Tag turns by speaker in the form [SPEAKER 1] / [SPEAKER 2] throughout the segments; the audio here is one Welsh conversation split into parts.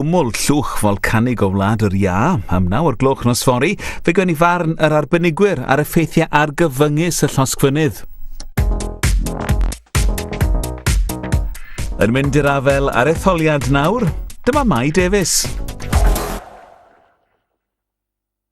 [SPEAKER 1] Cwmwl llwch folcanig o Wlad yr Iâ, am naw o'r gloch nos fori, fe gwn i farn yr arbenigwyr ar effeithiau argyfyngus y llosgfynydd. Yn mynd i'r afel ar etholiad nawr, dyma Mai Davies.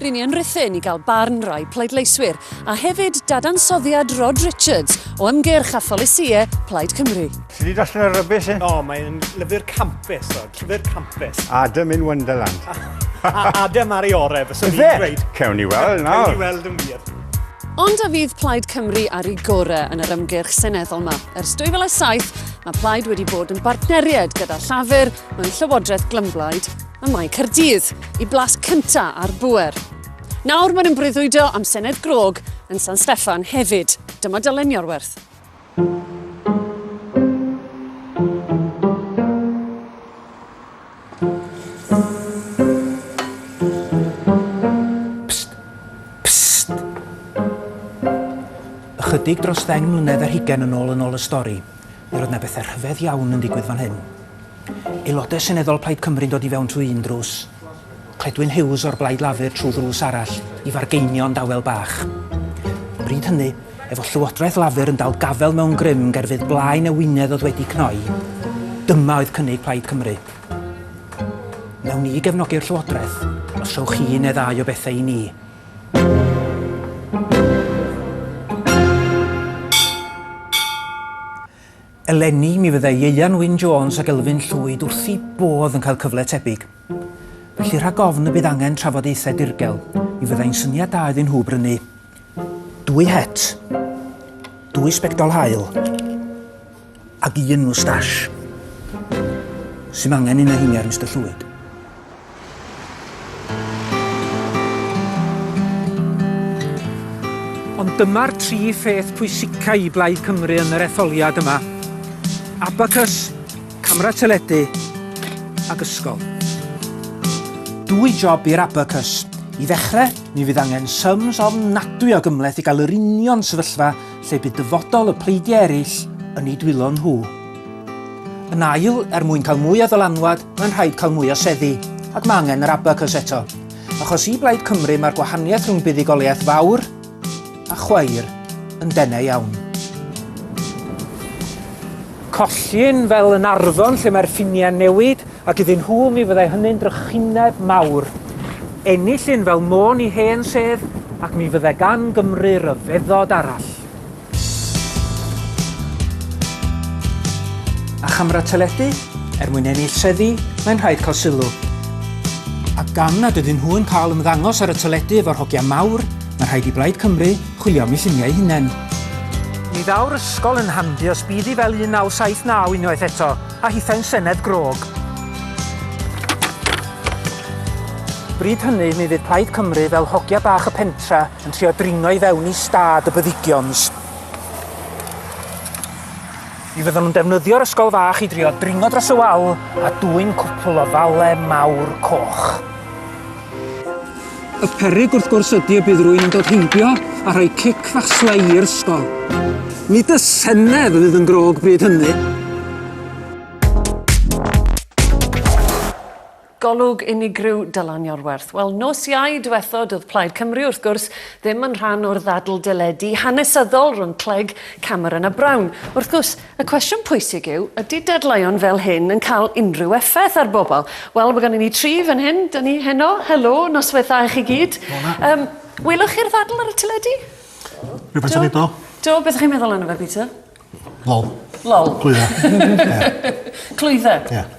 [SPEAKER 2] Ry'n ni yn Rhuthun i gael barn rai pleidleiswyr a hefyd dadansoddiad Rod Richards o ymgyrch a pholisïau Plaid Cymru. Ti di darllen y rybys
[SPEAKER 3] e? O, mae'n lyfr
[SPEAKER 4] campus, o, llyfr campus. Adam in Wonderland.
[SPEAKER 3] a Adam
[SPEAKER 4] ar ei orau, fes o'n i'n dweud. Cewn ni weld nawr. Cewn
[SPEAKER 3] ni weld yn wir.
[SPEAKER 4] Ond a
[SPEAKER 2] fydd Plaid Cymru ar ei gorau yn yr ymgyrch seneddol yma? Ers 2007, mae Plaid wedi bod yn bartneriaid gyda Llafur mewn llywodraeth glymblaid Ym Mae Caerdydd, i blas cynta ar bŵer. Nawr maen nhw'n breuddwydo am Senedd Grog yn San Steffan hefyd. Dyma Dylen Iorwerth.
[SPEAKER 5] Ychydig dros ddeng mlynedd ar hugain yn ôl yn ôl y stori, mi roedd 'na bethau rhyfedd iawn yn digwydd fan hyn. Aelodau Seneddol Plaid Cymru'n dod i fewn trwy un drws, Cledwyn Hughes o'r Blaid Lafur trwy ddrws arall i fargeinio'n dawel bach. Bryd hynny, efo Llywodraeth Lafur yn dal gafael mewn grym ger fydd blaen y wynedd oedd wedi cnoi, dyma oedd cynnig Plaid Cymru. Wnawn ni gefnogi'r Llywodraeth os rhowch chi un neu ddau o bethau i ni. Eleni, mi fyddai Ieuan Wyn Jones ac Elfyn Llwyd wrth eu bodd yn cael cyfle tebyg. Felly rhag ofn y bydd angen trafodaethau dirgel, mi fyddai'n syniad da iddyn nhw brynu dwy het, dwy sbectol haul ac un moustache. Sy'm angen un o heiniau ar Mister Llwyd. Ond dyma'r tri pheth pwysicau i Blaid Cymru yn yr etholiad yma, abacws, camera teledu ac ysgol. Dwy job i'r abacws. I ddechrau, mi fydd angen syms ofnadwy o gymhleth i gael yr union sefyllfa lle bydd dyfodol y pleidiau eraill yn eu dwylo nhw. Yn ail, er mwyn cael mwy o ddylanwad, Mae'n rhaid cael mwy o seddi, ac mae angen yr abacws eto. Achos i Blaid Cymru mae'r gwahaniaeth rhwng buddugoliaeth fawr a chwair yn denau iawn. Collin fel yn Arfon lle mae'r ffiniau'n newid ac iddyn nhw mi fyddai hynny'n drychineb mawr. Enillyn fel môn i hen sedd ac mi fyddai gan Gymru ryfeddod arall. A chamera teledu? Er mwyn ennill seddi, mae'n rhaid cael sylw. A gan nad ydyn nhw yn cael ymddangos ar y teledu efo'r hogia mawr, mae rhaid i Blaid Cymru chwilio am eu lluniau hunain. Mi ddaw'r ysgol yn handi os bydd hi fel 1979 unwaith eto, a hithau'n senedd grog. Bryd hynny, mi fydd Plaid Cymru fel hogia bach y pentra, Yn trio dringo i fewn i stad y byddigions. Mi fyddan nhw'n defnyddio'r ysgol fach i drio dringo dros y wal a dwyn cwpl o fale mawr coch. Y peryg wrth gwrs ydy y bydd rwy'n yn dod heibio a rhoi cic fach slei i'r ysgol. Nid y senedd fydd yn grog bryd hynny.
[SPEAKER 2] Golwg unigryw Dylan Iorwerth. Wel, nos Iau diwethod oedd Plaid Cymru, wrth gwrs, ddim yn rhan o'r ddadl deledu hanesyddol rhwng Clegg, Cameron a Brown. Wrth gwrs, y cwestiwn pwysig yw, ydy dadleuon fel hyn yn cael unrhyw effaith ar bobl? Wel, mae gennym ni tri fan hyn, da ni heno, helo, noswaith dda i chi gyd. Um, welwch chi'r ddadl ar y teledu? Rhywbeth yn
[SPEAKER 6] edo. Do, beth ydych chi'n meddwl yna
[SPEAKER 2] fe, Peter?
[SPEAKER 6] Lol. Lol.
[SPEAKER 2] Clwydda.
[SPEAKER 6] Clwydda? Ie.
[SPEAKER 2] Yeah.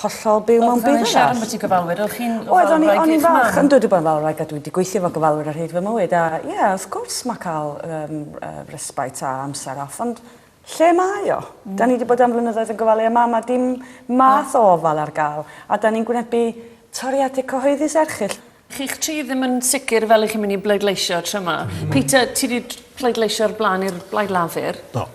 [SPEAKER 7] hollol byw mewn byd arall. Oeddwn i'n siarad ambyti gofalwyr o'ch
[SPEAKER 2] chi'n ofalwraig eich mam? Oeddwn i o'n i'n falch
[SPEAKER 7] yndw dwi bod yn
[SPEAKER 2] falwraig
[SPEAKER 7] a dwi
[SPEAKER 2] 'di
[SPEAKER 7] gweithio efo gofalwyr ar hyd fy mywyd a ie wrth gwrs ma' ca'l yym yy respite a amser off ond lle mae o? 'Dan ni 'di bod am flynyddoedd yn gofalu am mam a dim math o ofal ar ga'l a 'dan ni'n gwynebu toriade cyhoeddus erchyll. Chi'ch tri ddim
[SPEAKER 2] yn sicr fel i chi'n mynd i bleidleisio tro yma. Peter, ti wedi pleidleisio o'r blaen i'r Blaid Lafur. Do.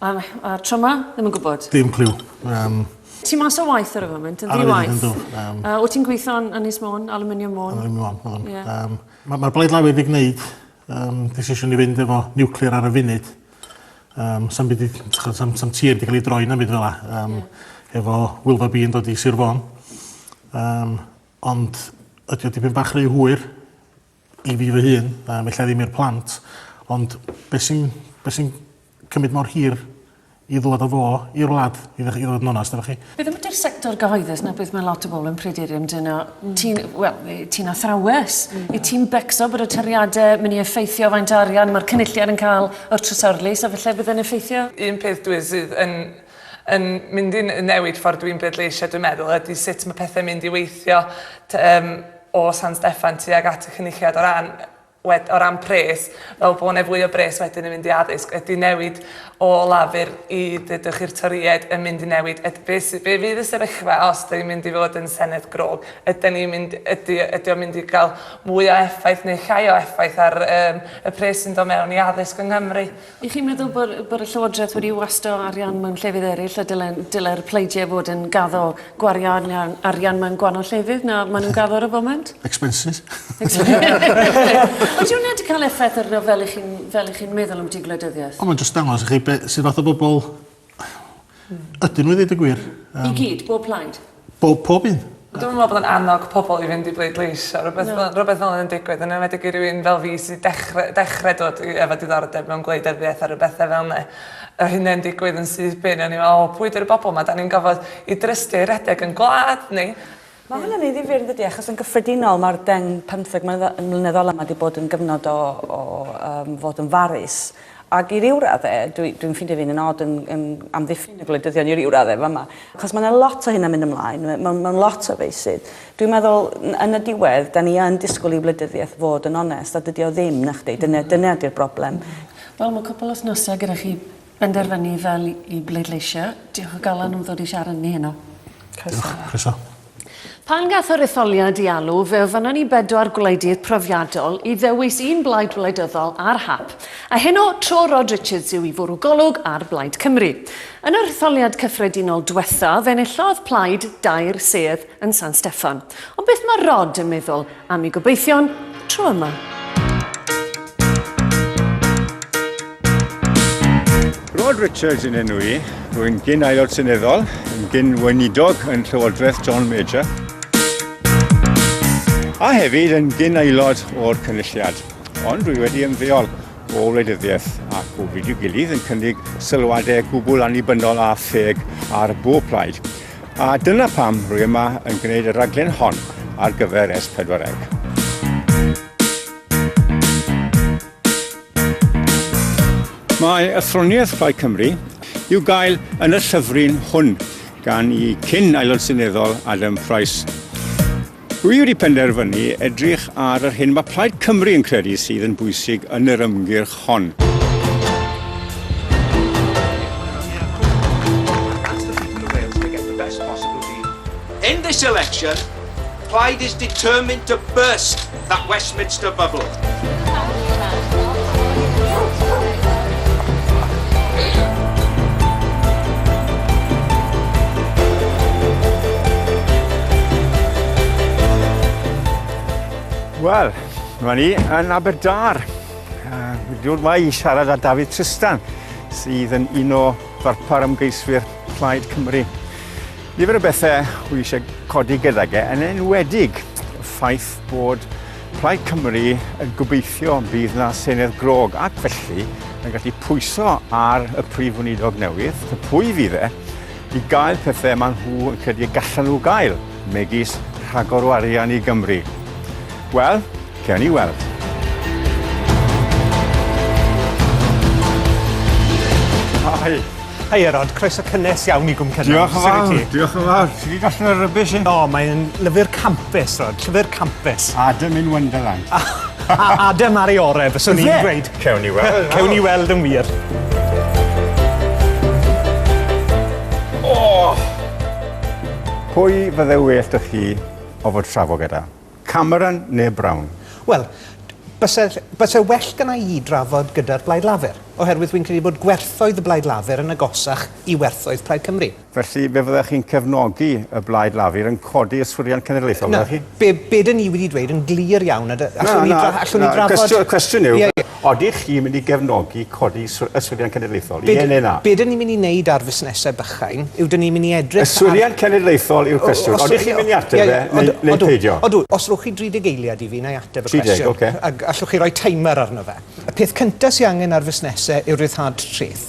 [SPEAKER 2] A,
[SPEAKER 6] a
[SPEAKER 2] tro yma? Ddim yn gwybod? Dim cliw. Um...
[SPEAKER 6] Ti
[SPEAKER 2] mas o waith ar y foment, yn ddi-waith. Ar y foment, yndw.
[SPEAKER 6] Um...
[SPEAKER 2] Uh, wyt ti'n
[SPEAKER 6] gweithio yn Ynys
[SPEAKER 2] Môn, Aluminium Môn? Aluminium Môn, Môn. Yeah. Um, Mae'r
[SPEAKER 6] ma Blaid Lafur wedi gwneud um, decision i fynd efo nuclear ar y funud. Um, sam, byd, sam, sam tir wedi cael ei droi na byd fel la. Um, yeah. Efo Wilfa B yn dod i Sir Fôn. Um, Ond ydy o dipyn bach rhy hwyr i fi fy hun, yym ella ddim i'r plant, ond be' sy'n be' sy'n cymryd mor hir i ddŵad â fo i'r wlad i ddech- i fod yn onast efo chi? Beth am ydi'r sector
[SPEAKER 2] gyhoeddus 'na beth mae lot o bobl yn pryderu amdano. Ti'n wel yy ti'n athrawes. Wyt ti'n becso bod y toriade myn' i effeithio faint o arian ma'r cynulliad yn ca'l o'r trysorlys a falle bydd e'n effeithio? Un peth dwi sydd
[SPEAKER 8] yn yn mynd i newid ffordd dwi'n bleidleisio dwi'n meddwl ydy sut mae pethau'n mynd i weithio um, o San Steffan tuag at y cynulliad o ran wed, o ran pres, fel bod yna fwy o bres wedyn yn mynd i addysg, ydy newid o lafur i ddydwch i'r toried yn mynd i newid, ydy, be, be fydd y sefyllfa os da ni'n mynd i fod yn Senedd grog, ydy ni'n mynd, ydy, ydy o'n mynd i gael mwy o effaith neu llai o effaith ar um, y pres sy'n dod mewn i addysg yng Nghymru. Y'ch chi'n meddwl bod,
[SPEAKER 2] bod y Llywodraeth wedi wasto arian mewn llefydd eraill a dylen, dylai'r pleidiau fod yn gaddo gwario arian, arian mewn gwahanol llefydd na maen nhw'n gaddo ar y foment? Expenses. Ydy hwnna wedi cael effaith arno fel ych chi'n fel ych chi'n meddwl am dy gwleidyddiaeth? Ond mae'n just dangos i chi be,
[SPEAKER 6] sydd fath o bobl Ydyn nhw i ddeud y gwir. Yym. I gyd? Bob plaid?
[SPEAKER 2] Bob pob un.
[SPEAKER 6] Dwi'm yn me'wl bod o'n annog
[SPEAKER 8] pobol i fynd i bleidleisio rwbeth fel rwbeth fel 'a yn digwydd yn enwedig i rywun fel fi sy dechre dechre dod i efo diddordeb mewn gwleidyddiaeth a ryw bethe fel 'ne. Yr hyn yn digwydd yn syth bin o'n i fel o pwy 'di'r bobol 'ma 'dan ni'n gorfod 'u drystio i redeg yn gwlad ni. Mae hwnna'n ei ddifyr
[SPEAKER 7] yndydi achos yn gyffredinol mae'r deng pymtheg mlynedd ola mae wedi bod yn gyfnod o, o um, fod yn farus ac i ryw radde, dwi'n dwi ffeindio fi'n yn od yn, yn amddiffyn y gwleidyddion i ryw radde fama, achos mae yna lot o hynna'n mynd ymlaen, mae'n ma lot o feisydd. Dwi'n meddwl, yn y diwedd, da ni yn disgwyl i wleidyddiaeth fod yn onest, a dydy o ddim, na chdi, dyna, dyna di'r broblem. Wel, mae cwpl
[SPEAKER 2] o snosau gyda chi benderfynu fel i bleidleisio. Diolch o galon am ddod i siarad ni heno. Croeso. Diolch, croeso.
[SPEAKER 6] Pan
[SPEAKER 2] gath yr etholiad i alw, fe ofynon ni bedwar gwleidydd profiadol i ddewis un blaid wleidyddol ar hap, a heno tro Rod Richards yw i fwrw golwg ar Blaid Cymru. Yn yr etholiad cyffredinol dwetha, fe enillodd plaid dair sedd yn San Steffan. Ond beth mae Rod yn meddwl A mi gobeithion tro yma.
[SPEAKER 3] Rod Richards yn enw i. Rwy'n gyn aelod seneddol, yn gyn weinidog yn Llywodraeth John Major. A hefyd yn gyn aelod o'r cynulliad. Ond rwy wedi ymddeol o wleidyddiaeth ac o fyd i'w gilydd yn cynnig sylwadau gwbl annibynnol a pheg ar bob plaid. A dyna pam rwy yma yn gwneud y rhaglen hon ar gyfer S4C. Mae athroniaeth Plaid Cymru i'w gael yn y llyfryn hwn gan i cyn aelod seneddol Adam Price. Dwi wedi penderfynu edrych ar yr hyn mae Plaid Cymru yn credu sydd yn bwysig yn yr ymgyrch hon.
[SPEAKER 9] In this election, Plaid is determined to burst that Westminster bubble.
[SPEAKER 3] Wel, mae ni yn Aberdâr. Uh, Dwi'n mae i siarad â David Tristan, sydd yn un o ddarpar ymgeiswyr Plaid Cymru. Nifer o bethau hwy eisiau codi gydag e, yn enwedig y ffaith bod Plaid Cymru yn gobeithio bydd na Senedd grog ac felly yn gallu pwyso ar y Prif Weinidog newydd, y pwy fydd e, i gael pethau maen nhw yn credu y gallan nhw gael, megis rhagor o arian i Gymru. Wel, cael ni weld.
[SPEAKER 4] Hi. Hiya Rod, croeso cynnes iawn i Gwm Cynon. Diolch yn fawr, diolch
[SPEAKER 3] yn fawr. Ti wedi darllen y rybys hyn? O, mae'n lyfr
[SPEAKER 4] campus, Rod, llyfr campus. Adam in Wonderland.
[SPEAKER 3] a, a Adam
[SPEAKER 4] ar ei orau, fyswn i'n dweud. Cewn ni weld. Cewn ni
[SPEAKER 3] weld yn wir.
[SPEAKER 4] Oh!
[SPEAKER 3] Pwy fydde well da chi o fod trafod gyda? Cameron neu Brown? Wel,
[SPEAKER 4] byse, byse well gynna i drafod gyda'r Blaid Lafur, oherwydd wi'n credu bod gwerthoedd y Blaid Lafur yn agosach i werthoedd Plaid Cymru. Felly, fe fyddech chi'n
[SPEAKER 3] cefnogi y Blaid Lafur yn codi yswiriant cenedlaethol, fyddech chi? Na, be, be
[SPEAKER 4] 'dyn ni
[SPEAKER 3] wedi dweud yn
[SPEAKER 4] glir iawn, a d- allwn ni dra- allwn ni drafod... Na, na, na, cwestiwn, cwestiwn yw... Ie, ie.
[SPEAKER 3] Odych chi'n mynd i gefnogi codi y Swyddiant Cenedlaethol? Ie neu na? Be dyn ni'n mynd i wneud ar
[SPEAKER 4] fusnesau bychain yw dyn ni'n mynd i edrych ar... Y Swyddiant Cenedlaethol
[SPEAKER 3] yw'r cwestiwn. Odych chi'n mynd i ateb fe neu peidio? Odw, os rhowch chi 30
[SPEAKER 4] eiliad i fi, na i ateb y cwestiwn. 30, ok. Ac allwch
[SPEAKER 3] chi
[SPEAKER 4] roi
[SPEAKER 3] timer
[SPEAKER 4] arno fe. Y peth cyntaf sydd angen ar fusnesau yw'r rhyddhad treth.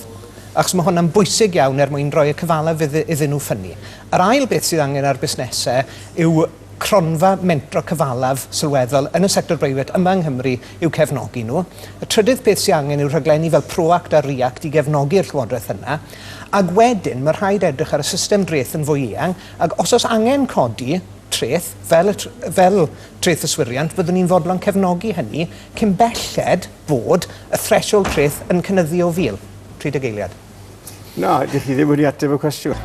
[SPEAKER 4] Achos mae hwnna'n bwysig iawn er mwyn rhoi y cyfalaf iddyn nhw ffynnu. Yr ail beth sydd angen ar busnesau yw Cronfa mentro cyfalaf sylweddol yn y sector breifat yma yng Nghymru i'w cefnogi nhw. Y trydydd peth sydd angen yw rhaglenni fel ProAct a ReAct i gefnogi'r llywodraeth yna. Ac wedyn, mae rhaid edrych ar y system dreth yn fwy eang, ac os oes angen codi treth, fel y tr fel treth yswiriant, fyddwn ni'n fodlon cefnogi hynny cyn belled bod y threshold treth yn cynyddu o 1,000, 30 eiliad. Na, dych
[SPEAKER 3] chi ddim wedi ateb y cwestiwn.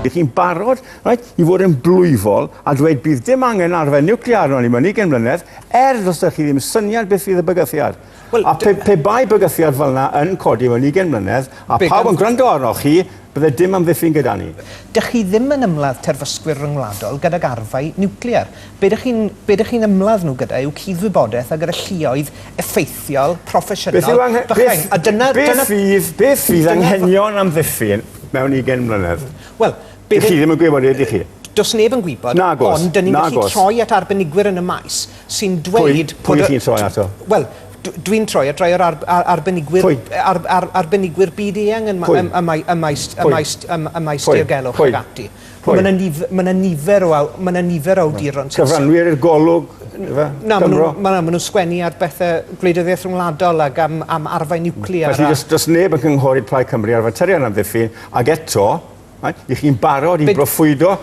[SPEAKER 3] Dych chi'n barod right, i fod yn blwyfol a dweud bydd dim angen arfer niwclear arno ni mewn 20 mlynedd, er ddos ydych chi ddim syniad beth fydd y bygythiad. Wel, a pe, pe bai bygythiad fel yna yn codi mewn 20 mlynedd, a pawb yn gwrando arnoch chi, bydde dim amddiffyn gyda ni. Dych chi ddim yn
[SPEAKER 4] ymladd terfysgwyr ryngwladol gydag arfau niwclear. Be dych chi'n be dych chi'n ymladd nhw gyda yw cudd-wybodaeth a gyda lluoedd effeithiol, proffesiynol, bychain. A dyna... Beth fydd,
[SPEAKER 3] beth fydd anghenion amddiffyn mewn 20 mlynedd? Wel, Dych chi
[SPEAKER 4] ddim yn gwybod,
[SPEAKER 3] ydych chi? Does neb yn gwybod,
[SPEAKER 4] ond dyn ni'n gallu troi at arbenigwyr yn y maes sy'n dweud... Pwy? Pwy wyt ti'n troi ato?
[SPEAKER 3] Wel, dwi'n
[SPEAKER 4] troi at rai o'r ar, ar, arbenigwyr... Pwy? Ar, ar, arbenigwyr byd eang yn, Pwy? ym, ym, ym, maes, ym maes, ym, ym maes Pwy? diogelwch Pwy? ac ati. Pwy? Mae yna nif, ma nifer o, aw- ma nifer o awduron sy'n... Cyfranwyr i'r golwg,
[SPEAKER 3] efe? Na, maen Cymro?
[SPEAKER 4] nhw'n ma, ma nhw sgwennu ar bethau gwleidyddiaeth rhwngwladol ac am, am arfau niwclear. Felly, a... does, does neb yn
[SPEAKER 3] cynghori Plaid Cymru ar faterion amddiffyn, ac eto, Right? Ych chi'n barod i broffwydo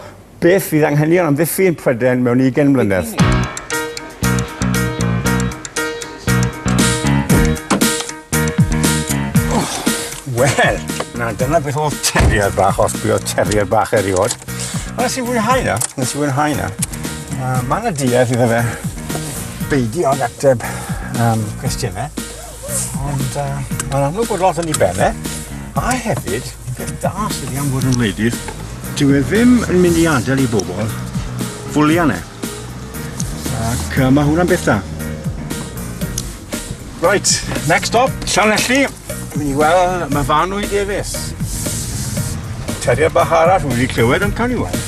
[SPEAKER 3] beth fydd anghenion amddiffyn Prydain mewn 20 mlynedd? Wel, na, dyna beth oedd terrier bach, os bydd oedd terrier bach erioed. Ond nes i fwynhau na, nes i fwynhau na. Uh, mae yna duedd iddo fe beidio ag ateb um, cwestiynau. Ond uh, mae'n amlwg bod lot yn ei ben e. A hefyd, peth da sydd wedi am fod yn wledydd, dyw e ddim yn mynd i adael i bobl fwlian e. Ac uh, mae hwnna'n beth da. Right, next stop, Llanelli. Dwi'n i weld mae fan o'i defus. Teriad bach arall, wedi clywed yn cael ei weld.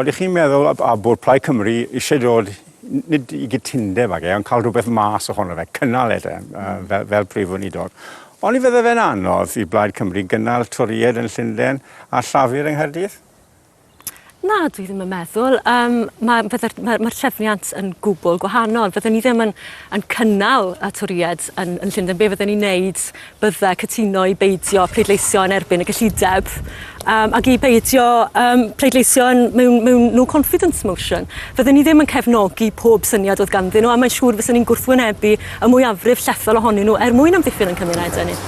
[SPEAKER 3] Ydych chi'n meddwl a bod Plaid Cymru eisiau dod, nid i gytundeb ag e, ond cael rhywbeth mas ohono fe, cynnal e de, mm. fel, fel prif weinidog. Ond i fydde fe'n anodd i Blaid Cymru gynnal Toried yn Llundain a Llafur yng Nghaerdydd?
[SPEAKER 2] Na, dwi ddim yn meddwl. Um, Mae'r ma, ma, ma trefniant yn gwbl gwahanol. Fyddwn ni ddim yn, yn cynnal y twried yn, yn Llundain. Be fyddwn ni'n neud bydde cytuno i beidio pleidleisio yn erbyn y gyllideb um, ac i beidio um, pleidleisio yn, mewn, mewn no confidence motion. Fydden ni ddim yn cefnogi pob syniad oedd ganddyn nhw a mae'n siŵr fyswn ni'n gwrthwynebu y mwyafrif llethol ohonyn nhw er mwyn amddiffyn yn cymunedau ni.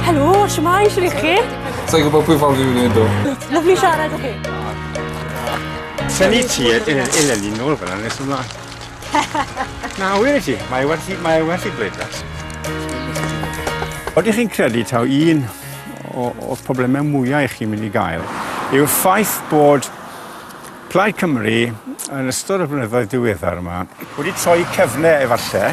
[SPEAKER 2] Helo, siwmai, siwr i chi? Sa'n gwybod pwy
[SPEAKER 10] ffordd i wneud o. Lyflu siarad â chi.
[SPEAKER 2] Sani
[SPEAKER 3] ti, eleni nôl fyna nes ymlaen. Na, wir i ti, mae werth i, mae werth i bleidlais. Oeddech chi'n credu taw un o'r problemau mwyaf i chi'n mynd i gael yw'r ffaith bod Plaid Cymru yn ystod y blynyddoedd diweddar yma wedi troi cyfle efallai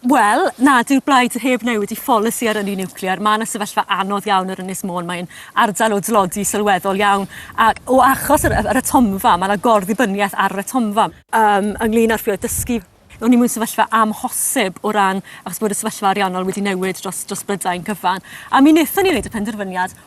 [SPEAKER 11] Wel, na, dyw'r blaid heb newid i pholisi ar ynni niwclear. Mae yna sefyllfa anodd iawn ar Ynys Môn. Mae'n ardal o dlodi sylweddol iawn. A o achos yr, yr atomfa, mae yna gorddibyniaeth ar yr atomfa. Um, ynglyn â'r ffioedd dysgu, O'n ni mewn sefyllfa amhosib o ran achos bod y sefyllfa ariannol wedi newid dros, dros Brydain cyfan. A mi wnaethon ni wneud y penderfyniad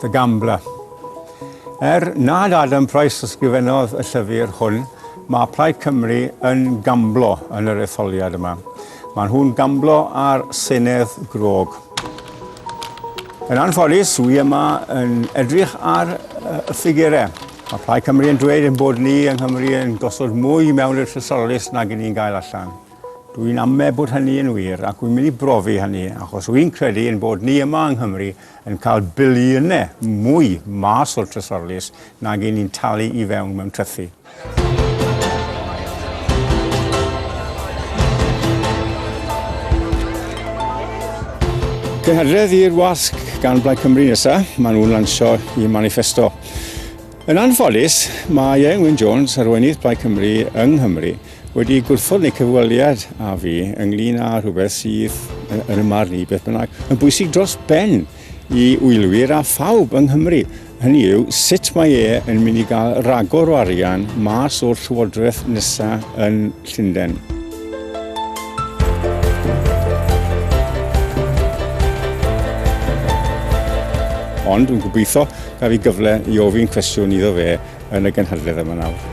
[SPEAKER 3] The Gambler. Er nad Adam Price ysgrifennodd y llyfr hwn, mae Plaid Cymru yn gamblo yn yr etholiad yma. Mae nhw'n gamblo ar Senedd Grog. Yn anffodus, wy yma yn edrych ar y ffigurau. Mae Plaid Cymru yn dweud ein bod ni yng Nghymru yn gosod mwy mewn i'r llysolus nag yn ni'n gael allan. Dwi'n amme bod hynny yn wir ac wy'n mynd i brofi hynny achos wy'n credu yn bod ni yma yng Nghymru yn cael biliynau mwy mas o'r trysorlys nag yn ni'n talu i fewn mewn trythi. Cynhadledd i'r wasg gan Blaid Cymru nesaf, maen nhw'n lansio i manifesto. Yn anffodus, mae Ieuan Wyn Jones, arweinydd Plaid Cymru yng Nghymru, wedi gwrthod neu cyfweliad â fi ynglyn â rhywbeth sydd, yn y marn i beth bynnag, yn bwysig dros ben i wylwyr a phawb yng Nghymru. Hynny yw, sut mae e yn mynd i gael ragor o arian mas o'r llywodraeth nesaf yn Llundain. Ond dwi'n gobeithio Gaf i gyfle i ofyn cwestiwn iddo fe yn y gynhadledd yma nawr.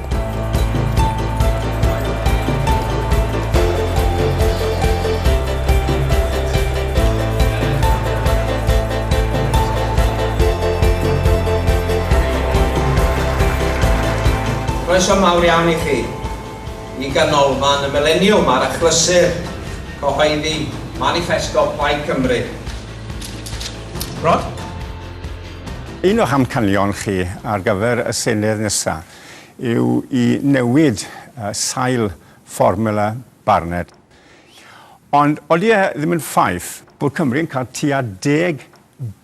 [SPEAKER 12] Croeso mawr iawn i chi i ganolfan y Mileniwm ar achlysur cyhoeddi Manifesto Plaid Cymru. Rod?
[SPEAKER 3] Un o'ch amcanion chi ar gyfer y Senedd nesa yw i newid sail fformula Barnett. Ond odi e ddim yn ffaith bod Cymru yn cael tua deg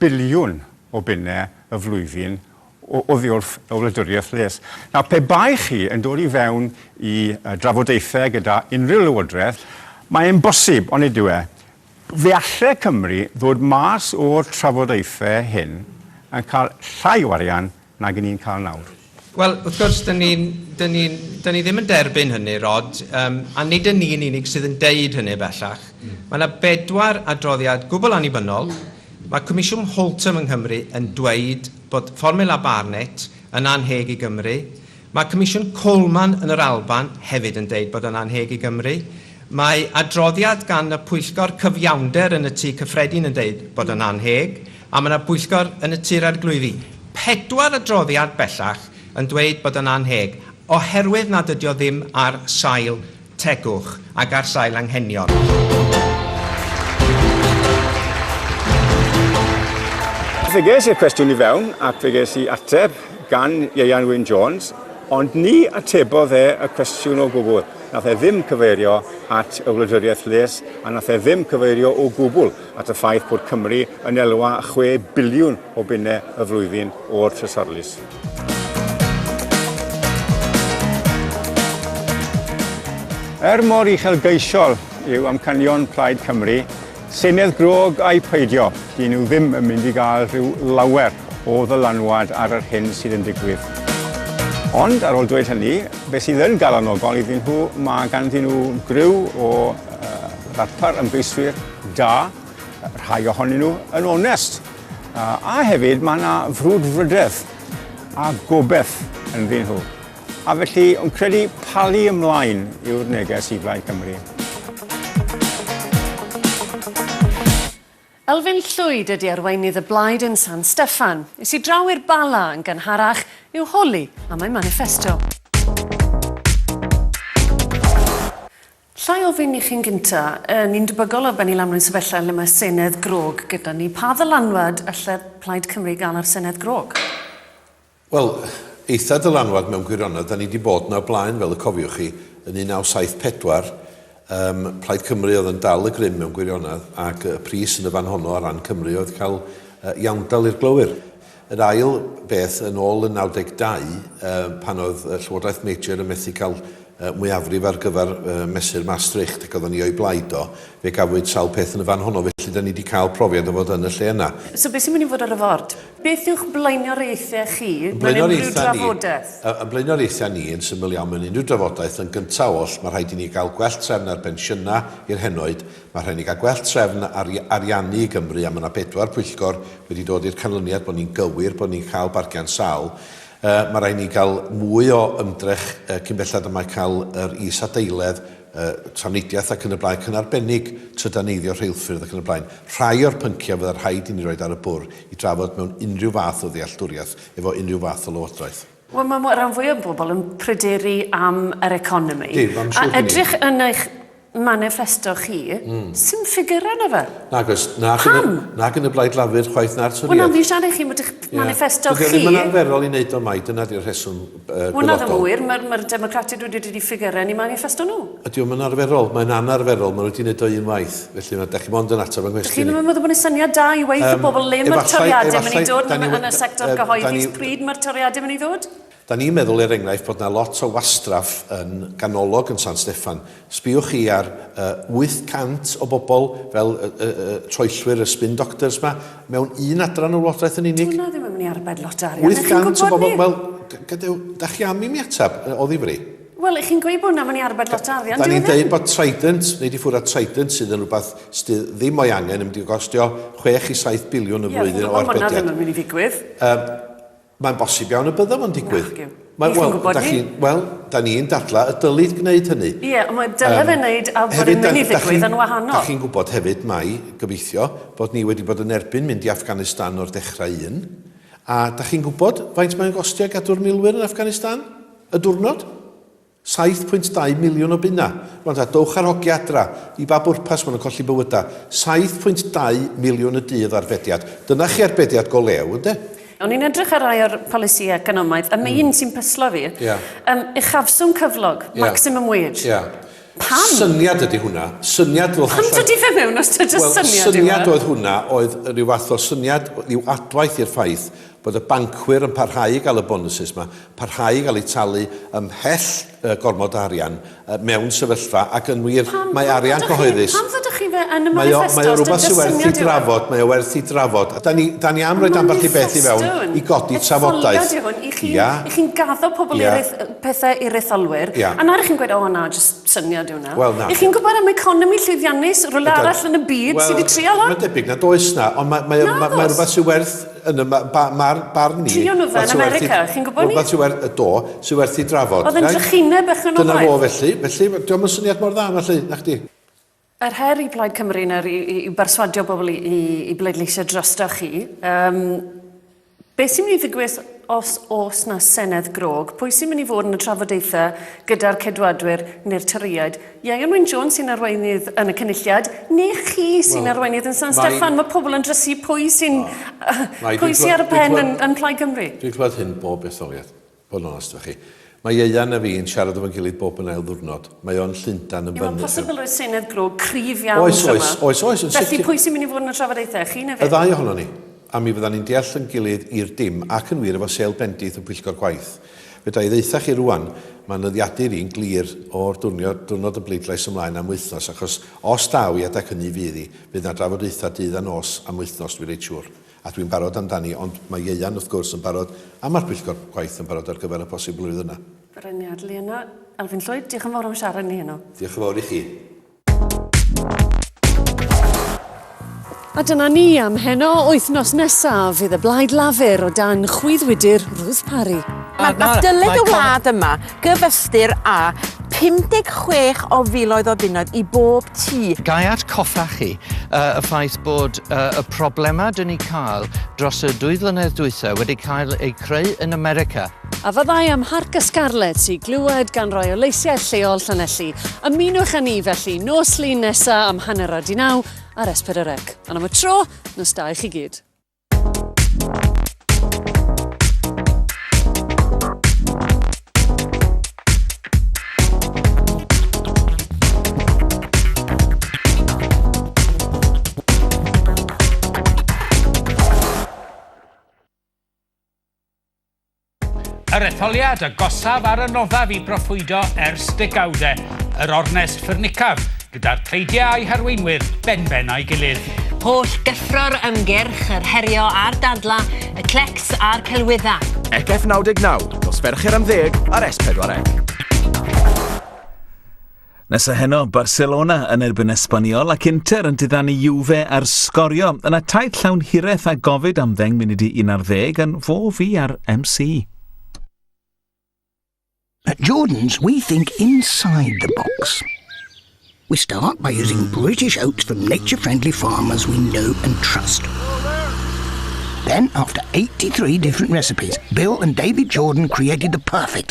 [SPEAKER 3] biliwn o bunnau y flwyddyn oddiwrth y wladwriaeth les? Nawr, pe bai chi yn dod i fewn i drafodaethau gyda unrhyw lywodraeth, mae e'n bosib, onid yw e, Fe alle Cymru ddod mas o'r trafodaethau hyn yn cael llai o arian nag y'n ni'n cael nawr. Wel, wrth gwrs,
[SPEAKER 12] dan ni ddim yn derbyn hynny, Rod, a nid y'n ni'n unig sydd yn dweud hynny bellach. Mae yna bedwar adroddiad gwbl annibynnol. Mae Comisiwn Holtham yng Nghymru yn dweud bod fformiwla Barnett yn annheg i Gymru. Mae Comisiwn Coleman yn yr Alban hefyd yn deud bod o'n annheg i Gymru. Mae adroddiad gan y Pwyllgor Cyfiawnder yn y Tŷ Cyffredin yn deud bod o'n annheg, a mae yna bwyllgor yn y Tŷ'r Arglwyddi. Pedwar adroddiad bellach yn dweud bod o'n annheg oherwydd nad ydi o ddim ar sail tegwch ac ar sail anghenion.
[SPEAKER 3] Fe ges i'r cwestiwn i fewn ac fe ges i ateb gan Ieuan Wyn Jones, ond ni atebodd e y cwestiwn o gwbl. Nath e ddim cyfeirio at y wladwriaeth les a nath e ddim cyfeirio o gwbl at y ffaith bod Cymru yn elwa 6 biliwn o benne y flwyddyn o'r Trysorlys. Er mor uchelgeisiol yw amcanion Plaid Cymru, Senedd Grog a'i peidio, dyn nhw ddim yn mynd i gael rhyw lawer o ddylanwad ar yr hyn sydd yn digwydd. Ond ar ôl dweud hynny, beth sydd yn galonogol iddyn nhw, mae ganddyn nhw griw o ddarpar ymgeiswyr da, Rhai ohonyn nhw yn onest. A hefyd mae yna frwdfrydedd a gobeith yn ddyn nhw. A felly, yn credu palu ymlaen yw'r neges i Blaid Cymru.
[SPEAKER 2] Elfyn Llwyd ydy arweinydd y blaid yn San Steffan. Is i draw i'r Bala yn gynharach i'w holi am ei maniffesto. Lla i ofyn i chi'n gynta', yy ni'n debygol o bennu lan mewn sefyllfa lle mae Senedd grog gyda ni. Pa ddylanwad alle Plaid Cymru gael ar Senedd grog? Wel,
[SPEAKER 13] eitha' dylanwad mewn gwirionedd. 'Da ni 'di bod 'na o blaen, fel y cofiwch chi, yn 1974. Yym, Plaid Cymru oedd yn dal y grym mewn gwirionedd, ac y pris yn y fan honno ar ran Cymru oedd cael yy iawndal i'r glowyr. Yr ail beth, yn ôl yn 92, pan oedd Llywodraeth Major yn methu cael mwyafrif ar gyfer Mesur Maastricht ac oedden ni o'i blaid o, fe gafwyd sawl peth yn y fan honno, felly 'da ni 'di cael profiad o fod yn y lle yna. So beth sy'n mynd i fod ar y
[SPEAKER 2] ford? Beth yw'ch blaenoriaethau chi mewn unrhyw drafodaeth? Ein blaenoriaethau
[SPEAKER 13] ni, yn syml iawn, mewn unrhyw drafodaeth, yn gyntaf oll, mae rhaid i ni gael gwell trefn ar bensiynau i'r henoed, Mae rhaid ni gael gwell trefn ar ariannu i Gymru a mae yna bedwar pwyllgor wedi dod i'r canlyniad bod ni'n gywir bod ni'n cael bargen sâl. Yy mae rhaid ni gael mwy o ymdrech yy cyn belled a mae cael yr is-adeiledd, yy trafnidiaeth ac yn y blaen ac yn arbennig trydaneiddio rheilffyrdd ac yn y blaen, rhai o'r pynciau fydda rhaid i ni roid ar y bwrdd i drafod mewn unrhyw fath o ddealltwriaeth efo unrhyw fath o lywodraeth. Wel, mae mwy, rhan fwyaf
[SPEAKER 2] o bobl yn pryderu am yr economi. Dim, am siŵr A edrych yn eich manifesto chi, mm. sy'n ffigurau na fe. Nag oes. Nag yn, y,
[SPEAKER 13] nag yn y blaid lafur chwaith na'r toriad. Wel, na, fi'n siarad i chi bod eich
[SPEAKER 2] manifesto chi... Dydy ddim yn arferol i wneud o
[SPEAKER 13] mai, dyna di'r rheswm uh, Wel, na ddim wir, mae'r
[SPEAKER 2] ma Democratiaid wedi dod i ffigurau yn ei manifesto nhw. Ydy o'm yn arferol?
[SPEAKER 13] Mae'n anarferol, ma' nhw 'di neud o un waith, felly ma'... Dach chi mond yn ateb fy nghwestiwn i. Dach chi'm yn meddwl bod e'n syniad da
[SPEAKER 2] i weud wrth bobl le ma'r toriade'n mynd i ddod yn y sector gyhoeddus, pryd ma'r toriade'n mynd i ddod? Da ni'n meddwl, er
[SPEAKER 13] enghraifft, bod 'na lot o wastraff yn ganolog yn San Steffan. Sbïwch chi ar y 800 o bobl fel y y y troellwyr, y spin doctors 'ma, mewn un adran o lywodraeth yn unig. Dyw hwnna ddim yn mynd i arbed lot
[SPEAKER 2] o arian, 'dach chi'n gwbod 'ny. 800 o bobl, wel,
[SPEAKER 13] gadewch, dach chi am i mi ateb, o ddifri? Wel, chi'n gweud bod
[SPEAKER 2] hwnna'n mynd i arbed lot o arian, Da ni'n dweud bod Trident,
[SPEAKER 13] neu di ffwrdd Trident sydd yn rhywbeth sydd ddim o'i angen, yn mynd i gostio 6 i 7 biliwn y flwyddyn o arbediad. Ie, hwnna ddim yn mynd i ddigwydd. Um, mae'n bosib iawn y bydda fo'n digwydd. Nac yw. Mae, well, gwybod ni? Wel, da ni'n dadla y dylid gwneud hynny. Ie, yeah, mae dylai um, fe
[SPEAKER 2] wneud a bod yn mynd i ddigwydd yn wahanol. Da chi'n gwybod hefyd
[SPEAKER 13] mae, gobeithio, bod ni wedi bod yn erbyn mynd i Afghanistan o'r dechrau un. A da chi'n gwybod faint mae'n gostio gadw'r milwyr yn Afghanistan? Y diwrnod? 7.2 miliwn o bunnau! Rwan ta, dowch â'r hogia adra! I ba bwrpas maen nhw'n colli bywydau? 7.2 miliwn y dydd o arbediad! Dyna chi arbediad go lew, ynde? O'n i'n edrych ar
[SPEAKER 2] rai o'r polisïau economaidd, a mae un sy'n pyslo fi. Ia. Yym, uchafswm cyflog, maximum wage. Ia. Pam? Syniad ydy hwnna.
[SPEAKER 13] Syniad fel Pam dydy
[SPEAKER 2] fe mewn os dydy jyst syniad yw e? Wel, syniad oedd hwnna,
[SPEAKER 13] oedd rhyw fath o syniad, rhyw adwaith i'r ffaith bod y bancwyr yn parhau i gael y bonwsus yma, parhau i gael eu talu ymhell gormod o arian mewn sefyllfa, ac yn wir, mae arian cyhoeddus,
[SPEAKER 2] mae o, mae o rywbeth sy'n werth ei
[SPEAKER 13] drafod, mae o werth ei drafod, a da ni, da ni am roed ambell i beth i fewn i godi trafodaeth. Etholiad yw hwn, i chi, i
[SPEAKER 2] chi'n gaddo pobl i rith, pethau i'r etholwyr, a nawr i chi'n gweud, o na, jyst syniad yw na. Wel, na. I chi'n gwybod am economi llwyddiannus, rhywle arall yn y byd sydd wedi trial hwn? Wel, mae'n debyg na does na,
[SPEAKER 13] ond mae, mae, mae, mae rhywbeth sy'n werth Yn y barn i, Trio nhw fe yn America,
[SPEAKER 2] chi'n gwybod ni? Rhywbeth sydd werth, yy do, sydd werth
[SPEAKER 13] ei drafod. Oedd yn drychineb bechgyn
[SPEAKER 2] o blaid. Dyna fo felly, felly,
[SPEAKER 13] diolch yn syniad mor dda felly, na chdi? Yr her
[SPEAKER 2] i Blaid Cymru nawr yw berswadio bobl i bleidleisio drosto chi. Beth sy'n mynd i ddigwydd os oes 'na Senedd grog? Pwy sy'n mynd i fod yn y trafodaethau gyda'r Ceidwadwyr neu'r Torïaid? Ieuan Wyn Jones sy'n arweinydd yn y Cynulliad, neu chi sy'n well, arweinydd yn San Steffan? Mae pobl yn drysu pwy sy'n oh, pwy sy ar y pen yn, yn Plaid Cymru. Dwi'n clywed hyn bob
[SPEAKER 13] etholiad, bod yn onest efo chi. Mae Ieuan a fi'n siarad efo'n gilydd bob yn ail ddwrnod. Mae o'n Llundan yn fyny. Mae'n posibl oes Senedd
[SPEAKER 2] Bro cryf iawn oes, yma. Oes, oes, oes. Yn Felly pwy
[SPEAKER 13] sy'n mynd i fod
[SPEAKER 2] yn y trafodaethau? Chi neu fe? Y ddau ohono ni.
[SPEAKER 13] A mi fyddan ni'n deall yn gilydd i'r dim ac yn wir efo sel bendith y pwyllgor gwaith. Fedra i ddaetha chi rŵan, mae nyddiadur i'n glir o'r diwrnod y bleidlais ymlaen am wythnos, achos os daw i adeg hynny fydd i, fydd na drafodaetha dydd a nos am wythnos dwi reit siŵr, a dwi'n barod amdani, ond mae ieuan wrth gwrs yn barod a ma'r pwyllgor gwaith yn barod ar gyfer y posibilrwydd yna. Renier,
[SPEAKER 2] Liana, Elfyn Llwyd,
[SPEAKER 13] diolch yn
[SPEAKER 2] fawr am siarad ni heno. Diolch yn fawr i chi. A dyna ni am heno, wythnos nesaf fydd y blaid lafur o dan chwyddwydyr Ruth Parry. Mae ma dyled
[SPEAKER 14] y wlad yma gyfystyr â 56 o filoedd o bunnoedd i bob tŷ. Gai atgoffa
[SPEAKER 15] chi uh, y ffaith bod uh, y problemau dyn ni cael dros y dwy flynedd dwytha wedi cael eu creu yn America. A fyddai ym
[SPEAKER 2] Mharc y Scarlets i glywed gan rai o leisiau lleol Llanelli. Ymunwch â ni felly nos Lun nesa am hanner a di naw ar S4 Rec. Ond am y tro, nos da i chi gyd.
[SPEAKER 16] Yr etholiad agosaf ar y noddaf i broffwydo ers degawdau, yr ornest ffyrnicaf, gyda'r pleidiau a'i harweinwyr benben a'i gilydd. Holl gyffro'r
[SPEAKER 17] ymgyrch, yr herio a'r dadlau, y clecs a'r celwyddau. ECEF 99,
[SPEAKER 18] nos Fercher am ddeg ar S4C.
[SPEAKER 1] Nesa heno, Barcelona yn erbyn Esbaniol ac Inter yn diddanu Juve ar sgorio. Yna taith llawn hiraeth a gofid am ddeng munud i 11 yn fo fi ar MC.
[SPEAKER 19] At Jordan's, we think inside the box. We start by using hmm. British oats from nature-friendly farmers we know and trust. Then, after 83 different recipes, Bill and David Jordan created the perfect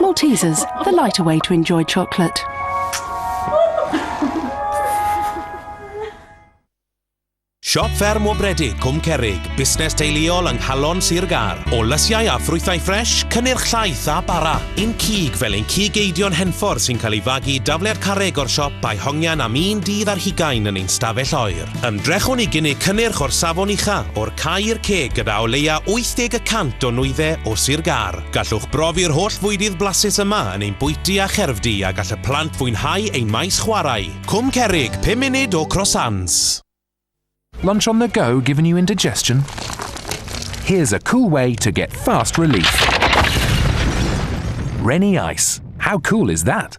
[SPEAKER 20] Maltesers, the
[SPEAKER 21] lighter way to enjoy chocolate.
[SPEAKER 22] Siop fferm o Bredig, Cwm Cerig, busnes teuluol yng Nghalon Sir Gar. O lysiau a ffrwythau ffres, cynnyrch llaeth a bara. Un cig fel ein cig eidion henffordd sy'n cael ei fagu dafliad carreg o'r siop a'i hongian am un dydd ar hugain yn ein stafell oer. Ymdrechwn i gynnig cynnyrch o'r safon ucha, o'r cae i'r ceg gyda o leia 80 y cant o nwydde o Sir Gâr. Gallwch brofi'r holl fwydydd blasus yma yn ein bwyty a cherfdy a gall y plant fwynhau ein maes chwarae. Cwm Cerrig, pum munud o Croissants.
[SPEAKER 23] Lunch on the go giving you indigestion? Here's a cool way to get fast relief. Rennie Ice. How cool is that?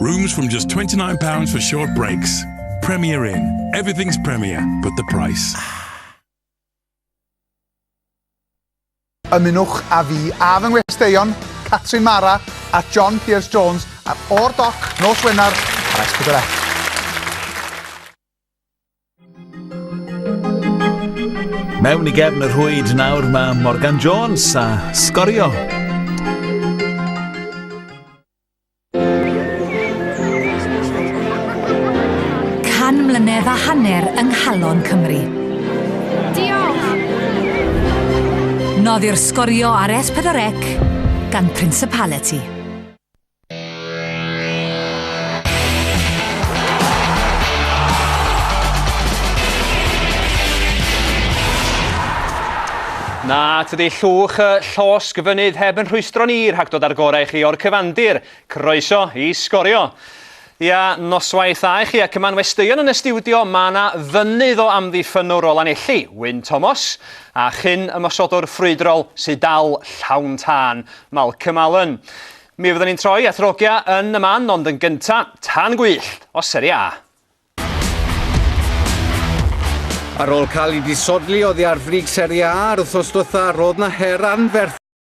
[SPEAKER 4] Rooms from just £29 for short breaks. Premier Inn. Everything's Premier, but the price.
[SPEAKER 5] Ymunwch a fi a fy ngwesteion, Catrin Mara a John Pierce Jones ar O'r Doc nos Wener ar S4C.
[SPEAKER 1] Mewn i gefn y rhwyd nawr mae Morgan Jones a sgorio
[SPEAKER 6] Can mlynedd a hanner yng nghalon Cymru. Diolch! Noddi'r sgorio ar S4C gan Principality.
[SPEAKER 7] Na, tydi llwch y llosg fynydd heb yn rhwystro ni rhag dod â'r gorau i chi o'r cyfandir. Croeso i Sgorio! Ia, noswaith dda i chi ac yma'n westeion yn y stiwdio, mae yna fynydd o amddiffynnwr o Lanelli, Wyn Tomos, a chyn ymosodwr ffrwydrol sydd dal llawn tân, Malcolm Allen. Mi fyddwn ni'n troi at Rogia yn y man, ond yn gynta, tân gwyllt o Serie A.
[SPEAKER 8] Ar ôl cael ei disodli oddi ar frig Serie A ar wythnos diwetha, roedd 'na her anferth